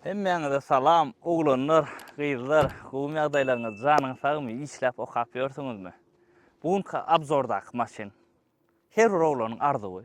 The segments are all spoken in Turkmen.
Hemmäňize salam oglanlar gyzlar gowymy ýagdaýlaryňyz janyňyz sagmy işläp okap ýörsüňizmi bu günki abzordaky maşyn her bir oglanyň arzuwy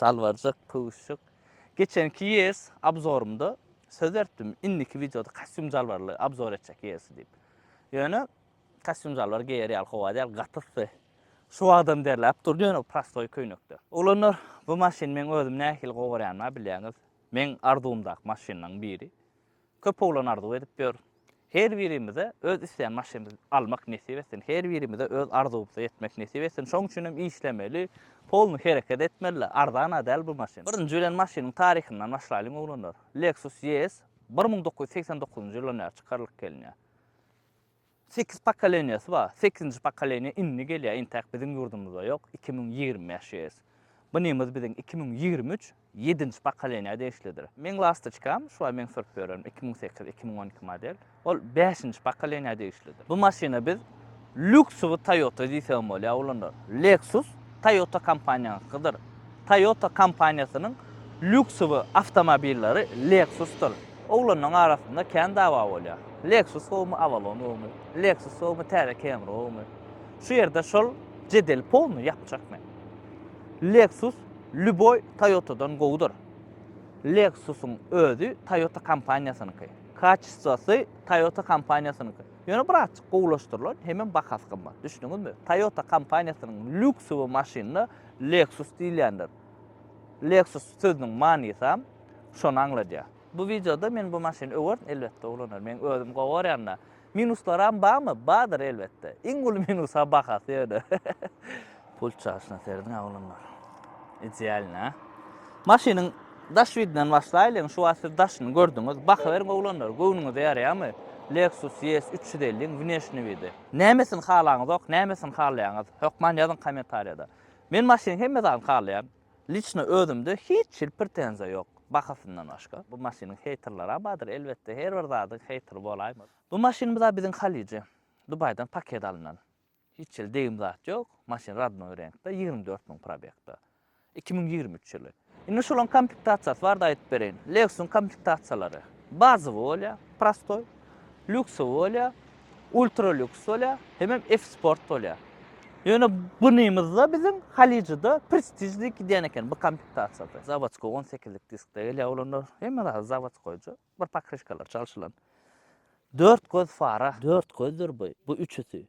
Salwarjyk, püwüşjik. Geçenki ýez abzorymda söz ertdim, indiki wideoda kostýum-jalbarly abzor etjek ýezi diýip. Ýöne kostýum-jalbar geýer ýaly howa däl, gaty yssy. Şu wagtam derläp dur, ýöne prostoý köýnekde. Oglanlar, bu maşyny meň özüm nähili gowarýanyma bilýäňiz. Meň arzuwymdaky maşynlaryň biri. Köp oglan arzuw edip ýör. Her birimize öz isleýän maşynymyzy almak nesip etsin. Her birimize öz arzuwymyza ýetmek nesip etsin. Şoň üçin hem işlemeli, polny hereket etmeli. Arzan-a däl bu maşyn. Birinji bilen maşynyň taryhyndan başlaýlyň oglanlar. Lexus ES bir müň dokuz ýüz segsen dokuzynjy ýyldan bäri çykarylyp gelinýär. Sekiz pokoleniýasy bar. Sekizinji pokoleniýa indi gelýär, intäk biziň ýurdumyzda ýok, iki müň ýigrimi bäş ýes. Bunymyz biziň iki müň ýigrimi üç ýedinji pokoleniýa degişlidir. Meň lastoçkam, şu aý men sürüp ýörerin, iki müň sekiz, iki müň on iki model. Ol bäşinji pokoleniýa degişlidir. Bu maşyna biz lýuksowy Toyota diýsegem bolýar, ulanarys. Lexus Toyota kompaniýaňykydyr. Toyota kompaniýasynyň lýuksowy awtomobilleri Lexus-dyr. Oglanlaryň arasynda kän dawa bolýar. Lexus gowumy, Avalon gowumy? Lexus gowumy, täze Camry gowumy? Şu ýerde şol jedeli polny ýapjak men. Lexus lýuboý Toyota-dan gowudyr. Lexus-yň özi Toyota kompaniýasynyňky. Kaçistwasy Toyota kompaniýasynyňky. Ýöne birazjyk gowulaşdyrylan, hemem bahasy gymmat. Düşdüňizmi? Toyota kompaniýasynyň lýuksowy maşynyna Lexus diýilýändir. Lexus sözüniň manysam şony aňladýar. Bu wideoda men bu maşyny öwerin elbetde ulanaryn. Meň özüm gowy görýända. Minuslarym barmy? Bardyr elbetde. Iň uly minusam bahasy ýöne. Pult çaşyna serediň aglamlar. Idealny a. Maşynyň daş widinden başlaýlyň. Şu wagt siz daşyny gördüňiz. Bakyberiň oglanlar, göwnüňize ýaraýamy? Lexus ES 350 iň wneşnyý widi. Nämesini halaňyzok nämesini halaýaňyz hökman ýazyň komentarýada. Men maşynyň hemme zadyny halaýan. Liçno özümde hiç hil prtenziýa ýok bahasyndan başga. Bu maşynyň heýterlera bardyr elbetde her bir zadyň heýteri bolaýmaz. Bu maşynymyz a biziň halyja Dubaýdan paket alnan. Hiç hili degim zat ýok. Maşyn radnoý reňkde ýigrimi dört müň probegda. Iki müň ýigrimi üç ýyly. Indi şolaň komplektasiýasy barada aýdyp bereýin. Lexus-yň komplektasiýalary. Bazowy bolýar, prostoý. Lýuksowy bolýar, ultra lýuks bolýar, hemem F-sport bolýar. Ýöne bunymyzda biziň Halyjyda Prestige diýip gidýän eken bu komplektasiýada. Zawodskoý on sekizlik diskde gelýär olanlar. Hemme zady zawodskoýja. Bir pokryşkalary çalşylan. Dört göz fara. Dört gözdür bu. Bu üçüsi.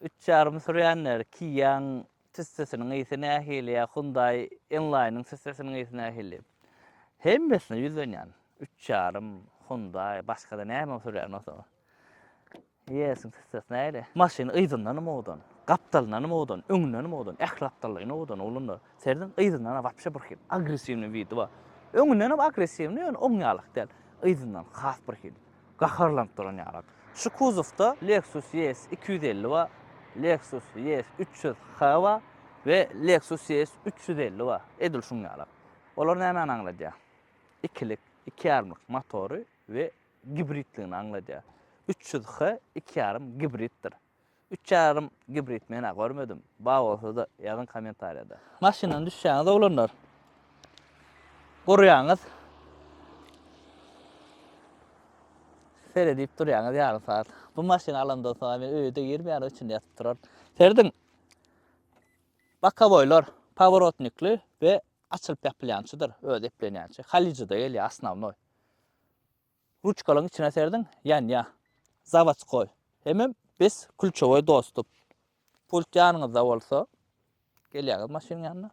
Üç ýarym sürýänler, Kia-nyň tüssesiniň ysy nähili ýa Hyundai N-Line-nyň tüssesiniň ysy nähili? Hemmesine ýüzlenýän. Üç ýarym, Hyundai, başga-da näme sürýän bolsaňyz. Yes-iň tüssesi nähili? Maşyn yzyndanam owadan, gapdalyndanam owadan, öňündenem owadan, ähli gapdalynda owadan oglanlar. Serediň, yzyndan-a wapşe birhili, agressiwnyý widi bar. Öňündenem agressiwnyý, ýöne oň ýalyk däl. Yzyndan has birhili. Gaharlanyp duran ýalam. Şu kuzowda Lexus ES iki ýüz elli bar, Lexus ES üç ýüz H bar we Lexus ES üç ýüz elli bar. Edil şuň ýalam. Olar nämäni aňladýar? Ikilik, iki ýarymlyk motory we gibridligini aňladýar. Üç ýüz H iki ýarym gibriddir. Üç ýarym gibrid menä görmedim. Bar bolsada ýazyň komentariýada. Maşyndan düşýäňiz oglanlar. Gurýaňyz. Seredip durýaňyz ýarym saat. Bu maşyny alandan soň men öýde girmeýän üçin ýatyp turan. Serediň. Bakaboýlar paworotnikli we açylyp ýapylýançydyr öz eplenýänçä. Halyjyda gelýär asnawnoý. Ruçkalaň içine serdiň ýanýa. Zawodskoý. Hemem biz kulçowoý dostup. Pult ýanyňyzda bolsa. Gelýäňiz maşynyň ýanyna.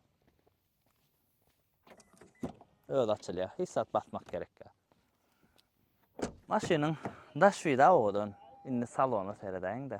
Öz açylýar. Hiç zat basmak gerek ýa. Maşynyň daş wida owadan. Indi salona seredäýiň-de.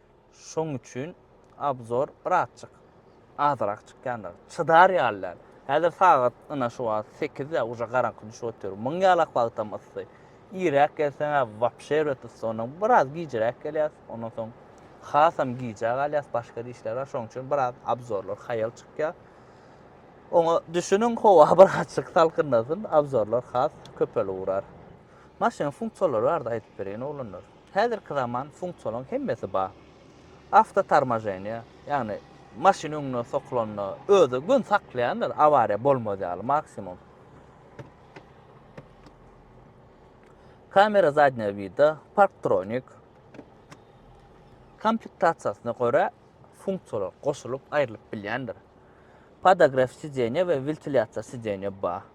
Şoň üçin obzor birazjyk azrak çykýandyr. Çydar ýaly däl. Häzir sagat ynha şu wagt sekiz ýa uje garaňky düşüp otyr. Muň ýalak wagtam yssy. Irräk gelseňä wapşe erbet yssy ondan biraz gijiräk gelýäs. Ondan soň hasam gijä galýas başga işler bar şoň üçin biraz obzorlar haýal çykýa. Oňa düşüniň howa birazjyk salkynlasyn obzorlar has köpelip urar. Maşynyň funksiýalary barada aýdyp bereýin oglanlar. Häzirki zaman funksiýalaryň hemmesi bar. Awtotormoženiýe, ýagny maşyn öňüne sokulanda özi gün saklaýandyr, awariýa bolmaz ýaly maksimum. Kamera zadnýego wida, parktronik. Komplektasiýasyna görä funksiýalar goşulyp, aýrylyp bilýändir. Podogref sidenýe we wentilýasiýa sidenýe bar.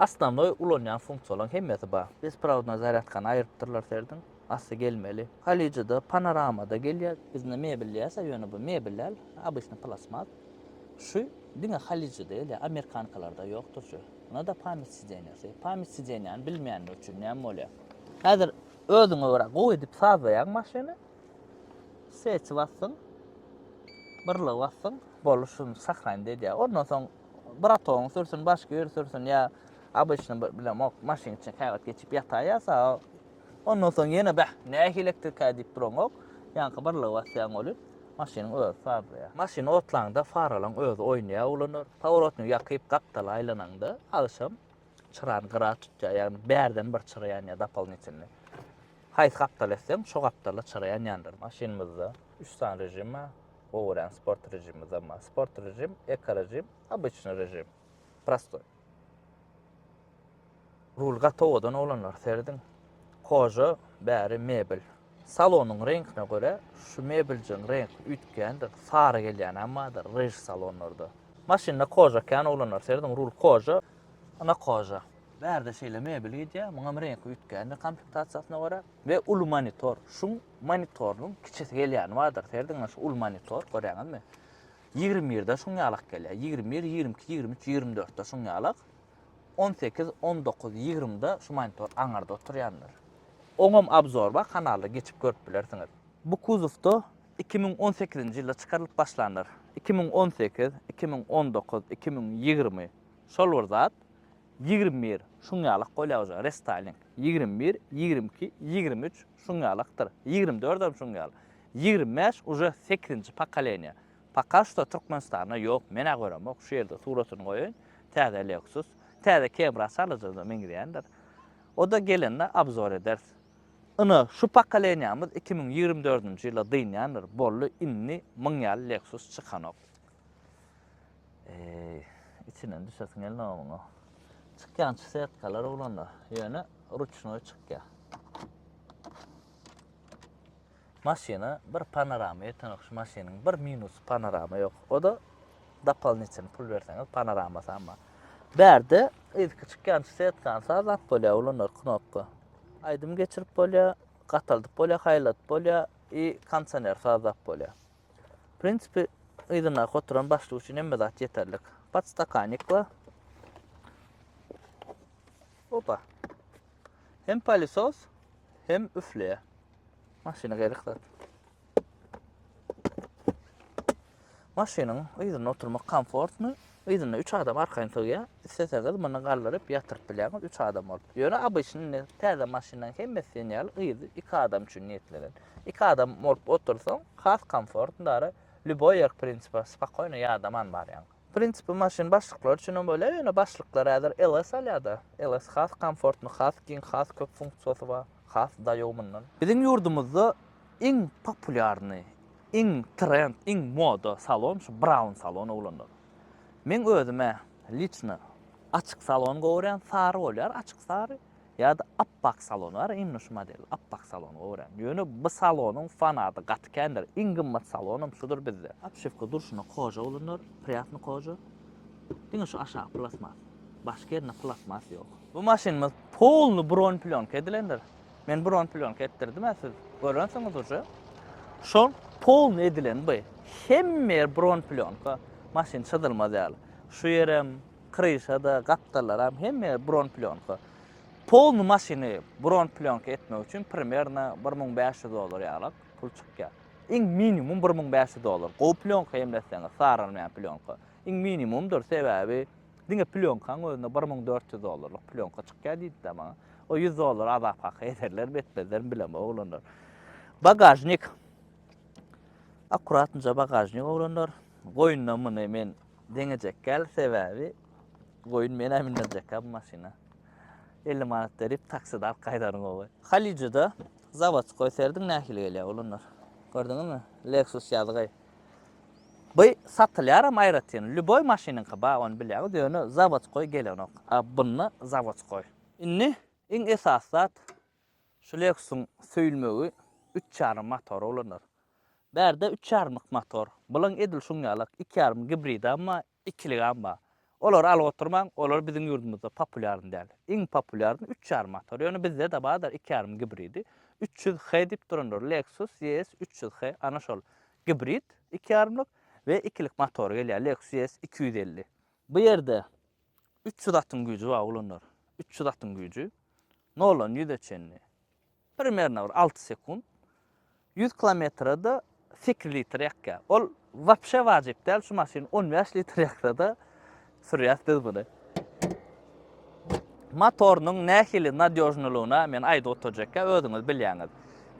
Osnovnoý ulanýan funksiýalaryň hemmesi bar. Besprovodnoý zarýadkany aýyrypdyrlar serediň. Asty gelmeli. Kalijada, panoramada gelýär. Bizde mebel diýersiň, ýöne bu mebel däl, obysnyý plastmas. Şu diňe kalijada gelýär, amerikankalarda ýokdur şu. Muňada pamýat sideniýasy. Pamýat sideniýany bilmeýänler üçin näme bolýar? Häzir özüňe görä gowy edip sazlaýaň maşyny. Swetçi basdyň. Birligi basdyň. Boldy şuny sahranit edýär. Ondan soň. Bratogyň sürsün, başga ýeri sürsün ýa obyçny bir bilemok, maşynyň içine käwagt geçip ýataý ýa sa. Ondan soň ýene bäh, nähili elektrikaý diýip duraňok, ýaňky birligi basýaň welin, maşynyň özi farlaýar. Maşyn otlaňda faralaň özi oýnaýar ulanar. Powrotny ýakyp gapdala aýlanaňda, agşam çyrany gyra tutýar, ýagny bärden bir çyra ýanýar dopolnitylnyý. Haýsy gapdala etseň, şo gapdala çyra ýanýandyr. Maşynymyzda üç sany režim bar. gowy görýän sport režimi zaman. Sport režim, ekorežim, обычный režim. Prostoy. Rul gaty owadan oglanlar serediň. Koža bäri mebel. Salonyň reňkine görä şu mebeljiň reňk üýtgändir. Sary gelýän hem bardyr rež salonlarda. Maşynda koža kän oglanlar serediň. Rul koža, ana koža. Bärde şeýle mebel gidýär, muňam reňki üýtgändir komplektasiýasyna görä we uly monitor. Şuň Monitorynyň kiçisi gelýäni bardyr. Serediňiz, şu uly monitor, görýäňizmi? Ýigrimi birde şuň ýalak gelýär. Ýigrimi bir, ýigrimi iki, ýigrimi üç, ýigrimi dörtde şuň ýalak. On sekiz, on dokuz, ýigrimide şu monitor aňyrda oturýandyr. Oňam obzor bar, kanalda geçip görüp bilersiňiz. Bu kuzowda iki müň on sekizinji ýylda çykarylyp başlandyr. Iki müň on sekiz, iki müň on dokuz, iki müň ýigrimi şol bir zat. Ýigrimi bir şuň ýalak bolýar uje, restaýling. Ýigrimi bir, ýigrimi iki, ýigrimi üç. Şuň ýaly akdyr. Ýigrimi dördem şuň ýaly. Ýigrimi bäş uje sekizinji pokoleniýa. Poka şto Türkmenistanda ýok, men-ä göremok. Şu ýerde suratyny goýaýyn. Täze Lexus. Täze Kebra çalaja-da meňzeýändir. O-da gelende abzor ederis. Ine, şu pokoleniýamyz iki müň ýigrimi dördünji ýyla dynýandyr. Boldy, indi muň ýaly Lexus çykanok. Eee, içinden düşesiň gelmä oňa. Çykýan şu setkalar uglanda, ýöne ruçnoý çykýa. Maşyna bir panorama ýetenok şu maşynyň. Bir minus panorama ýok. O da dopolinitel pul berseňiz panorama samma. Bärde ilki çykýan şu setkan sa zat bolýa ulanlar knopka. Aýdym geçirip bolýa, gataldyp bolýa, haýladyp bolýa i kondisioner sazap bolýa. Prinsipi, yzyndaky oturan başlyk üçin hemme zat ýeterlik. Podstakanik we Opa. Hem palisos, hem üfleýär. Maşyna gerek zat. Maşynyň yzynda oturmak komfortny, Yzyna üç adam arkaýyn sygýar. Isleseňiz muny galdyryp, ýatyryp bilýäňiz, üç adam bolup. Ýöne obyçny indi täze maşynlaryň hemmesi diýen ýaly yzy iki adam üçin niýetlenen. Iki adam bolup otursaň, has komfortndary, lýuboý ýer prinsipe spokoýno ýadaman barýaň. Prinsipe maşyn başlyklary üçin hem bolýar, ýöne başlyklar häzir LS alýar-da. LS has komfortny, has giň, has köp funksiýasy bar, has daýaw mundan. Biziň ýurdumyzda Iň populýarny, iň trend, iň moda salon şu brown salon oglanlar. Meň özüm-ä liçno açyk salon gowy görýän, sary bolýar, açyk sary ýa-da appak salon bar, imni şu model appak salon gowy görýän. Ýöne bu salonyň fanady gaty kändir, iň gymmat salonam şudur bizde. Obşewka durşuna koja oglanlar, priýatny koja. Diňe şu aşagy plastmas. Başga ýerinde plastmas ýok. Bu maşynymyz polny bronplýonka edilendir. Men bron plýonka etdirdim-ä siz görensiňiz uje. Şol polny edilen bu. Hemme ýer bron plýonka. Maşyn çyzylmaz ýaly. Şu ýerem, kryşa-da, gapdallaram hemme ýer bron plýonka. Polny maşyny bron plýonka etmek üçin primerno bir müň bäş ýüz dollar ýalyk pul çykýar. Iň minimum bir müň bäş ýüz dollar. Gowy plýonka hemletseňiz, sargynmaýan plýonka. Iň minimumdyr, sebäbi Diňe plýonkaň özünde bir müň dört ýüz dollarlyk plýonka çykýar diýdi-de maňa. O ýüz dollar azap haky ederlermi, etmezlermi bilemok oglanlar. Bagažnik. Akkurat nje bagažnik oglanlar. Goýunda muny men deňejekkäl, sebäbi goýun menä mindirjekkä bu maşyna. 50 manat berip takside alyp gaýdaryň gowy. Halyjyda zawodskoý serediň nähili gelýär oglanlar. Gördüňizmi? Lexus ýazgy. By satylýaram aýratyn lýuboý maşynyňky bar ony bilýäňiz ýöne zawodskoý gelenok a bunda zawodskoý. Indi iň esasy zat şu Lexusyň söýülmegi üç ýarym motory ulanýar. Bärde üç ýarymlyk motor, bulaň edil şuň ýalak iki ýarym gibridam bar, Ikiligem bar. Olary alyp oturmaň, olar biziň ýurdumyzda populýarny däl. Iň populýarny üç ýarym motor. Ýöne bizde-de bardyr iki ýarym gibridi. Üç ýüz H diýip durandyr. Lexus ES üç ýüz H, ana şol gibrid iki ýarymlyk we ikilik motory gelýär, Lexus ES iki ýüz elli. Bu ýerde üç ýüz atyň güýji bar oglanlar. Üç ýüz atyň güýji. Noldan ýüze çenli. Primerno bir alty sekunt. Ýüz kilometrede sekiz litr ýakýar. Ol wapşe wajyp däl, şu maşyn on bäş litr ýaksada sürýäs biz buny. Motorynyň nähili nadýožnylygyna men aýdyp oturjakka özüňiz bilýäňiz.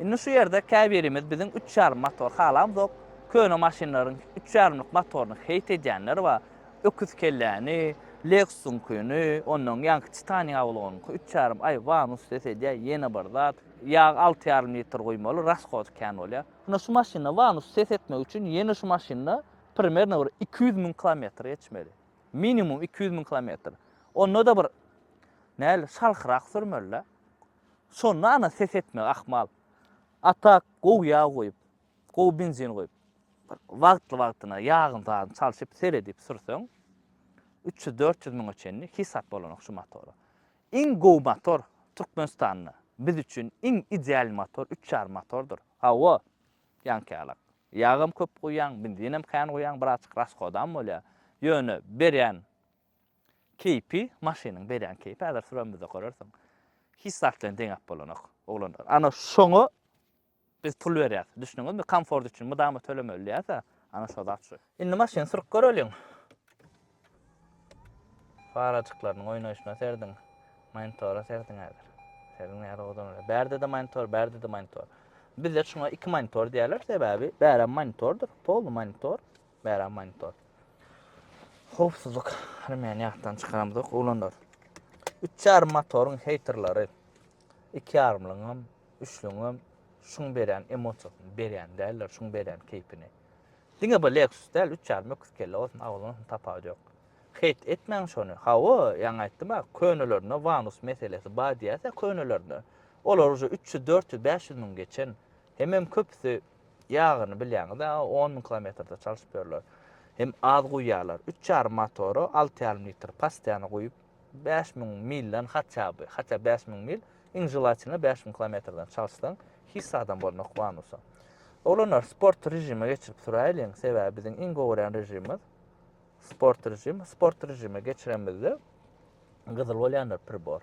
Indi şu ýerde käbirimiz biziň üç ýarym motor halamzok, köne maşynlaryň üç ýarymlyk motoryny heýt edýänler bar. Öküz kelläni, Lexus-yňkyny, onnoň ýanky Titan ýawlygynyňky üç ýarym aý wanus ses edýä, ýene bir zat, ýag alty ýarym litr guýmaly, rashoty kän bolýa. Ine şu maşynda wanus ses etmek üçin ýene şu maşynda primerno bir iki ýüz müň kilometr geçmeli. Minimum iki ýüz müň kilometr. Onda-da bir näl şalhyrak sürmeli-dä. Şonda ana ses etmegi ahmal. A tak gowy ýag guýup. gowy benzin guýup, bir wagtly-wagtyna ýagyny zadyny çalşyp, seredip sürseň, üç ýüz, dört ýüz müňe çenli hisap bolanok şu motora. Iň gowy motor Türkmenistanda, biz üçin iň ideal motor üç ýarym motordyr. Hawa, ýaňkyýalak. Ýagam köp guýýaň, benzinem kän guýýaň, birazjyk rashodam bolýar. Ýöne berýän keýpi, maşynyň berýän keýpi, häzir süremizde görersiň, hiç zat bilen deňäp bolanok, oglanlar. Ana şoňa Biz pul berýäs. Düşdüňizmi? Komfort üçin mydama tölemeli diýýäs-ä. Ana şo zat şu. Indi maşyny sürüp göreliň. Farajyklarynyň oýnaýşyna serediň. Monitora serediň häzir. Serediň nähili owadan bolýar. Bärde-de monitor, bärde-de monitor. Bizde şuňa iki monitor diýerler, sebäbi bärem monitordyr. Polny monitor, bärem monitor. Howpsuzlyk remýany ýatdan çykaramyzok, oglanlar. Üç ýarym motoryň heýterleri. Iki ýarymlyňam, üçlüňem şuň berýän emosiýasyny berýän däldir, şuň berýän keýpini. Diňe bir Lexus däl, üç ýarym öküz kelle bolsun, agyz bolsun tapawudy ýok. Heýt etmäň şony. Hawa, ýaňy aýtdym-a, könelerinde Vanus meselesi bar diýýäs-ä könelerinde. Olar uje üç ýüz, dört ýüz, bäş ýüz müň geçen. Hemem köpüsi ýagyny bilýäňiz-ä, on müň kilometrde çalşyp ýörler. Hem az guýýarlar. Üç ýarym motora alty ýarym litr postoýany guýup, Bäş müň milden haçja by, haçja bäş müň mil, iň želatina bäş müň kilometrden çalyşsaň, hiç zadam bolmok bonusa. Oglanlar, sport režime geçirip süräýliň, sebäbi biziň iň gowy görýän režimimiz sport režim. Sport režime geçirenimizde gyzyl bolýanlar pribor.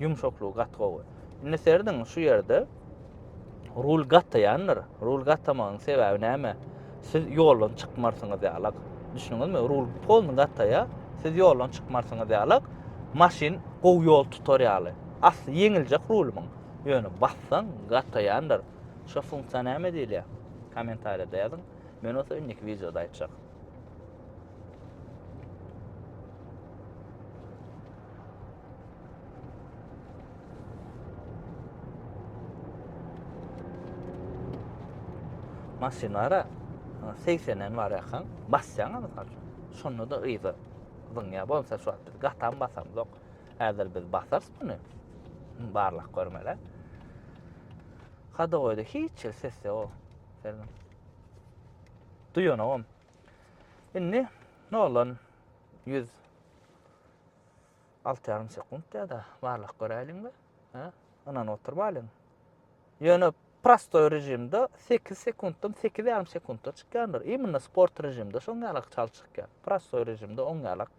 Ýumşaklygy gaty gowy. Indi serediň şu ýerde rul gataýandyr. Rul gatamagyň sebäbi näme? Siz ýoldan çykmarsyňyz ýalak. Düşündiňizmi? Rul polny gataýa, siz ýoldan çykmarsyňyz ýalak. Maşyn gowy ýol tutar ýaly. Asly ýeňiljek rulymyň. Ýöne bassaň gataýandyr. Şo funksiýa näme diýilýär? Kommentariýada ýazyň. Men bolsa indiki wideoda aýtjak. maşynlara 80-den bar ýakan basýaň mysal üçin. Şonda da yza zyňýa bolsa şu wagt gatam basam ýok. Häzir biz basarys muny. Barlak görmele. Hada goýdy hiç ses ýok. Selam. Duýanogam. Indi noldan ýüz alty ýarym sekunt ýa-da barlak göräýliň we hä, ynanyp oturmaýlyň. Ýöne prostoý režimde sekiz sekuntdan sekiz ýarym sekuntda çykýandyr. Imенно sport režimde şoň ýalak çal çykýar. Prostoý režimde oň ýalak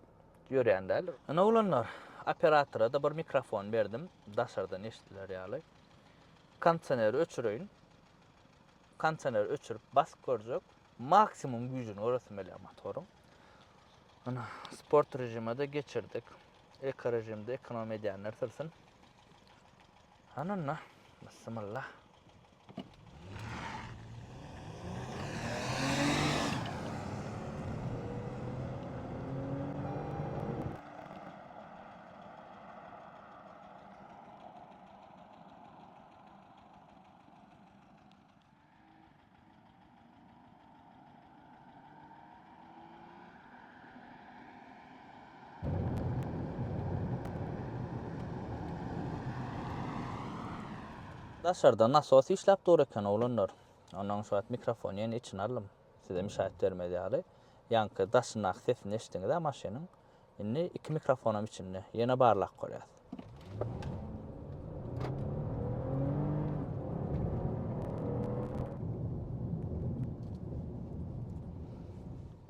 ýörýän däl. Ine oglanlar, operatora-da bir mikrofon berdim, daşardan eşidiler ýaly. Kondisioneri öçüreýin. Kondisioneri öçürip basyp görjek. Maksimum güýjüni göresim gelýär motoryň. Ana, sport režime-de geçirdik. Eko režimde ekonom edýänler sürsin. Hany onda, bismillah. Daşarda nasos işläp dur eken oglanlar. Ondan şu wagt mikrofony ýene içine aldym. Size müşaýat bermez ýaly. Ýaňky daşyndaky sesini eşdiňiz-ä maşynyň. Indi iki mikrofonam içinde. Ýene barlap görýäs.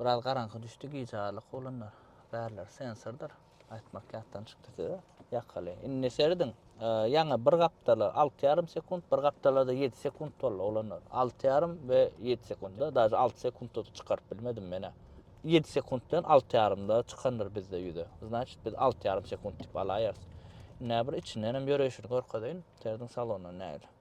Biraz garaňky düşdi gije arlyk olanlar. Bärler sensordyr. Aýtmak ýatdan çykdy size. Ýakaly. Indi serediň. Ýaňy bir gapdala alty ýarym sekunt, bir gapdalada ýedi sekunt boldy oglanlar. Alty ýarym we ýedi sekunta, daže alty sekunta-da çykaryp bilmedim men-ä. Ýedi sekunt bilen alty ýarymda çykandyr bizde ýüze. Znaçit, biz alty ýarym sekunt diýip alaýarys. Indi-ä bir içindenem ýöreýşini görkezeýin, terziň salonyndan nägile.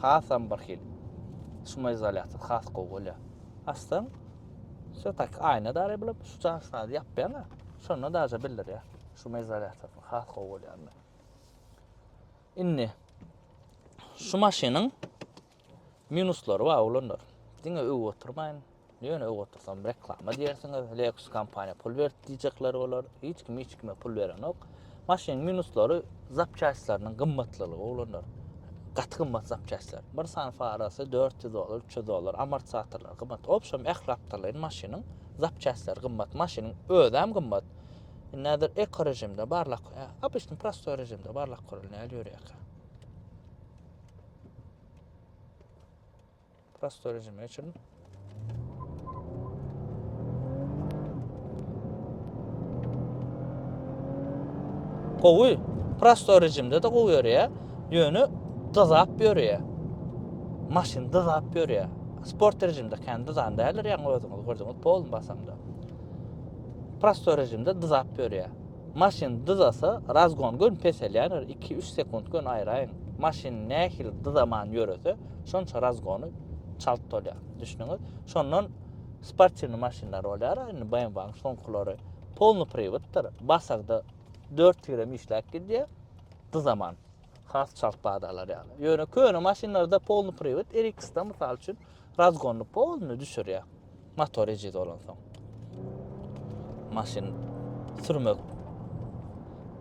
Hasam bir hil. Şumoizolýator has gowy bolýar. Açsaň, şo tak aýna dary bulup, şu jaňşyňy ýapýaň-a, şonda daže bildirýär. Şumoizolýator has gowy bolýar indi. Indi şu maşynyň minuslary bar oglanlar. Diňe öwüp oturmaýyn. Nöne öv otursam reklama diýersiňiz, Lexus kompaniýa pul berdi diýjekler bolar. Hiç kim hiç kime pul berenok. Maşynyň minuslary zapçastlarynyň gymmatlylygy oglanlar. Gaty gymmat zapçastlar. Bir sany farasy 400 dollar, 300 dollar, amortizatorlar gymmat. Obşem ähli aptarlaryň maşynyň zapçastlary gymmat. Maşynyň özem gymmat. Indi häzir eko režimde barlak, obysny prostoý režimde barlak görülýär ýörýär. Prosto rejimi geçirin. Gowy. Prosto rejimde de gowy ýörýär. Ýöne dyzap ýörýär. Maşyn dyzap ýörýär. Sport rejimde kendi zan däller ýaňy özüňiz gördüňiz polny basamda. Prosto rejimde dyzap ýörýär. Maşyn dyzasa razgon gön peselýändir iki üç sekunt gön aýraýyň maşyn nähili dyzaman ýörese şonça razgony çalt dolýar düşdüňiz şondan sportiwny maşynlar bolýara indi bmw-nyň soňkylary polny priwtdyr basagda dört tirem işläp gidýär dyzaman. has çalt badalar ýaly. Ýöne köne maşynlarda polny priwet RX-da mysal üçin razgonny polny düşürýär. Motor eji dolan soň. Maşyn sürmek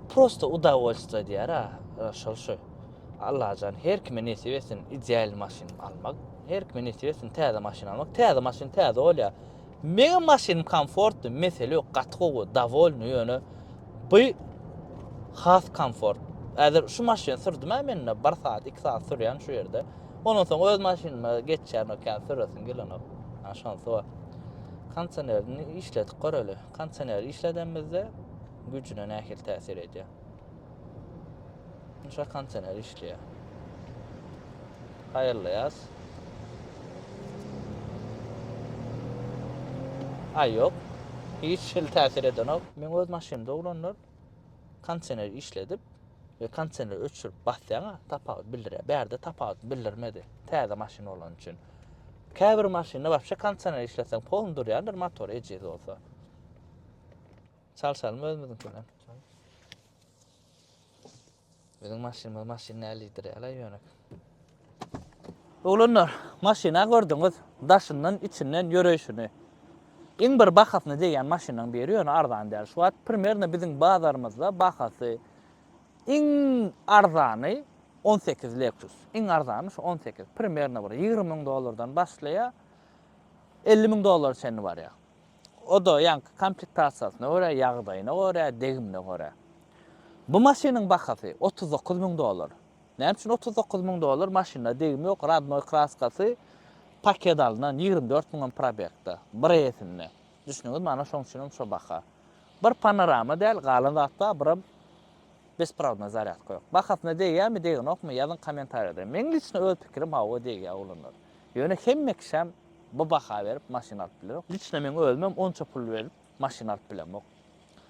prosta udawollstwo diýär ha, şol şu. Allajan her kime nesip etsin ideal maşyn almak. Her kime nesip etsin täze maşyn almak. Täze maşyn täze bolýar. Meň maşynym komfortdy mesele ýok gaty gowy dawolny ýöne by has komfort häzir şu maşyny sürdümä menda bir saat iki saat sürýän şu ýerde ondan soň öz maşynyma geçýän okean süresim gelenok ha şonsy bar konsenerini işledip göreli konseneri işledemizde güjüne nähili täsir edýär. Şa kontener işleýär. Haýyrlaýas. Ay yok. Hiç şil täsir edenok. Men öz maşynymda ulanlar kontener işledip ve kontener öçürüp basýana tapawut bildirýär. Bärde tapawut bildirmedi. Täze maşyn bolan üçin. Käbir maşynda wapşe kontener işleseň polny durýandyr motor ejiz bolsa. Çalşalymy özümiziňkini? Biziň maşynymyz maşyn nälidir ýaly ýöne. Oglanlar, maşyna gördüňiz, daşyndan, içinden ýöreýşini. Iň bir bahasyna degýän maşynyň biri ýöne arzan däl. Şu wagt primerno biziň bazarymyzda bahasy iň arzany 18 Lexus. Iň arzany şu 18. Primerno bir 20 müň dollardan başlaýar. 50 müň dollara çenli barýar. O-da ýaňky komplektasiýasyna görä, ýagdaýyna görä, degimine görä. Bu maşynyň bahasy otuz dokuz müň dollar. Näme üçin otuz dokuz müň dollar? Maşynda degim ýok, rodnoý kraskasy, paket alnan, ýigrimi dört müňem probegda, bir eýesinde. Düşdüňizmi, ana şoň üçinem şo baha. Bir panorama däl, galan zat bar, birem Besprawdna zarýadka ýok. Bahasyna degýämi degenokmy ýazyň komentariýada. Meň liçno öz pikirim hawa degýä oglanlar. Ýöne hemme kişäm bu baha berip maşyn alyp bilenok. Liçno meň özümem onça pul berip maşyn alyp bilemok.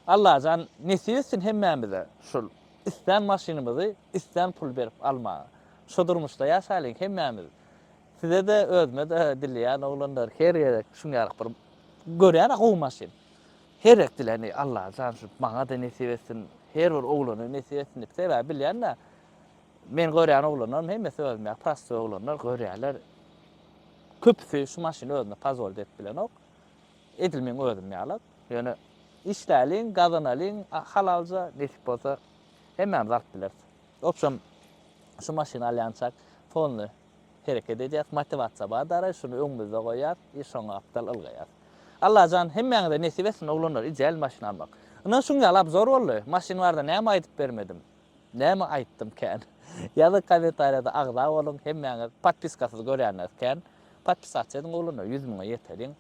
Allajan nesip etsin hemmämize şul islän maşynymyzy islän pul berip almaga. Şo durmuşda ýaşaýlyň hemmämiz. Sizede özümede dileýän oglanlar her gezek şuňňaryk bir görýän a gowy maşyn. Her etdilerini Allaha tanşyp, maňa-da nesip etsin, her bir oglana nesip etsin diýip, sebäbi bilýän-dä, meniň görýän oglanlarym hemmesi özüm ýaly prostoý oglanlar, görýärler, köpüsi şu maşyny özüne pozwoliti edip bilenok. Edil meň özüm ýalak. Ýöne işläliň, gazanalyň halalja, nesip bolsa hemmämiz alyp bileris. Obşem, şu maşyny alýançak, fonly hereket edýäs, motiwasiýa bar daraý, şuny öňümizde goýýas i şoňa gapdal ylgaýas. Allajan hemmäňize nesip etsin oglanlar ideal maşyn almak. Ynan şuň ýaly abzor boldy, maşyn barada näme aýdyp bermedim, näme aýtdym kän. Ýazyň kommentariýada agza boluň hemmäňiz podpiskasyz görýäňiz kän. Podpisasiýa ediň oglanlar ýüz müňe ýeteriň.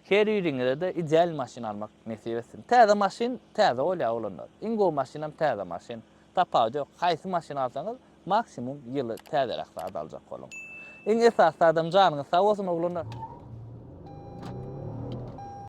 Her biriňizede ideal maşyn almak nesip etsin. Täze maşyn täze bolýar oglanlar. Iň gowy maşynam täze maşyn. Tapawut ýok. Haýsy maşyn alsaňyz Maksimum ýyly täzeräk zat aljak boluň. Iň esasy zadam janyňyz sag bolsun oglanlar.